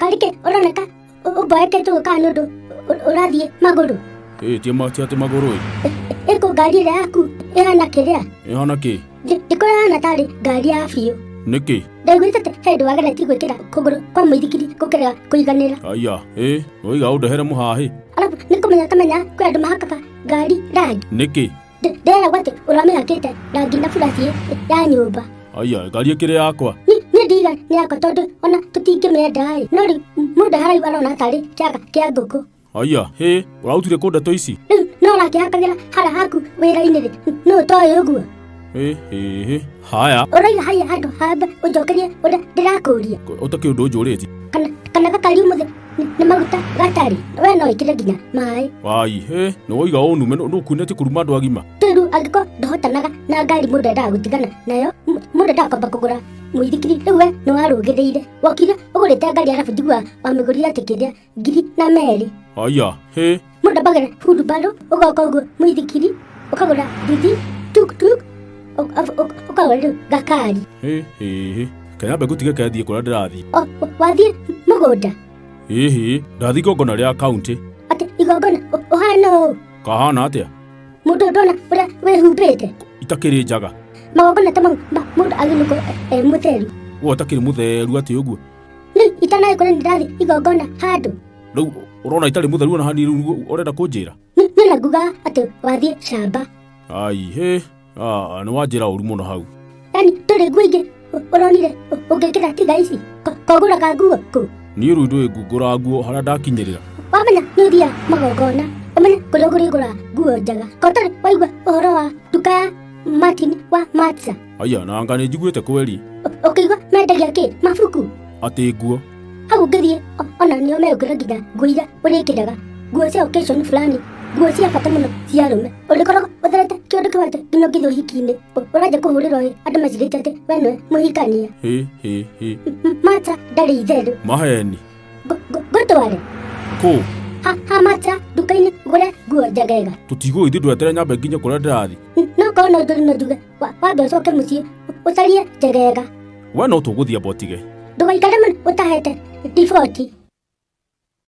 karike ũroneka ũ- ũmboekete gũka nĩ ũndũ ũ- ũrathiĩ magũrũ ĩĩ tie ma- tie atĩ magũrũ ĩ ĩkũ ngari ĩrĩa yaku ĩhana kĩrĩa ĩhana kĩ Ndĩ- ndĩkora hana tarĩ ngari ya biũ nĩkĩ ndaiguĩte atĩ he ndũ wageretie gwĩkĩra kũgũrũ kwa mũithikiri gũkĩrega kũiganĩra aya ĩ noiga ũndehere mũhaha ĩ alafu nĩkũmenya kamenya kwĩ andũ mahakaka ngari rangi nĩkĩ Ndĩ- ndĩreragwo atĩ ũrĩa wamĩhakĩte rangi na buraci ya nyũmba aya ngari ĩkĩrĩ yakwa Ni- niĩ ndiga nĩ yakwa tondũ ona tũtingĩmĩenda-ĩ no rĩu m- mũndũ haraiu arona tarĩ kĩaga kĩa ngũkũ aya hĩ ũrautire kũ ndeto ici rĩu no ũrakĩhakagĩra hara haku wĩra-inĩ-rĩ nũ ũtoĩ ũguo Ĩ, ĩ, ĩ. haya ũraiga haya handũ hamba ũnjokerie ũrĩa ndĩrakũria ũtakĩ ũndũ njũrĩti kana kana gakariu mũthĩ nĩ- nĩ maguta gatarĩ we no ĩkĩre nginya maĩ wai ĩ, nĩ woiga ũnume nĩ ũkunĩti kuruma andũ agima tĩru angĩkorwo ndũhotanaga na ngari mũndũ endaga gũtigana nayo m- mũndũ endaga kwamba kũgũra mũithikiri rĩu we nĩ warũgĩrĩire wokire ũgũrĩte ngari arabu njiguaga wamĩgũrire atĩ kĩrĩa ngiri na merĩ aya he mũndũ ambagĩra hurubarũ ũgoka ũguo mũithikiri ũkagũra nduthi tuktuk ũ- ab- ũ- ũkagũra rĩu gakari he he he kanyambe ngũtige kethiĩ kũrĩa ndĩrathiĩ O- o- wathiĩ mũgũnda ĩhĩ ndathiĩ igongona rĩa kaunti atĩ igongona ũ- ũhana ũũ kahana atĩa mũndũ ndona ũrĩa wĩhumbĩte itakĩrĩ njaga magongona ta mau ma- mũndũ agĩrĩirwo gũkorwo e- e mũtheru we ũtakĩrĩ mũtheru atĩ ũguo nĩ itanaĩ kũrĩ ndĩrathi igongona handũ rĩu ũrona itarĩ mũtheru ona hani rĩu ũrenda kũnjĩra Nĩ- nĩ na nguga atĩ wathiĩ camba ai hĩ ah, nĩ wanjĩra ũru mũno hau yani ndũrĩ nguo ingĩ ũ- ũronire ũ- ũngĩkĩra tiga ici Ko- kogũraga nguo kũ niĩ rĩu ndũĩ ngungũra nguo harĩa ndakinyĩrĩra wamenya nĩ ũthiaga magongona ũmenye kũrĩa ũgũrĩgũra nguo njega ko ũtarĩ waigua ũhoro wa nduka ya martin wa matsa Aya, na anga nĩ njiguĩte kweri Ũ- ũkĩigua mendagia kĩ mabuku atĩ nguo hau ngĩthiĩ o- ona nĩo megũkĩra nginya nguo iria ũrĩkĩraga nguo cia occasion fulani nguo cia bata mũno cia arũme ũrĩkoragwo ũtherete kĩũndũ kĩwanja nginya ũngĩthiĩ ũhiki-inĩ Ũ- ũranja kũhũrĩrwo ĩ andũ macirĩte atĩ we nĩwe mũhikania hĩ hĩ hĩ M- mata ndarĩ itherũ maheni Ngũ- ngũ- ngũtware kũ ha ha mata nduka-inĩ ngũre nguo njagega tũtigũgĩthiĩ ndwetere nyambe nginya kũrĩa ndĩrathiĩ N- no korwo no njũri no njuge Wa- wambe ũcoke mũciĩ ũcarie njegega we no tũgũthiĩ botige ndũgaikare mũno ũtahete riboti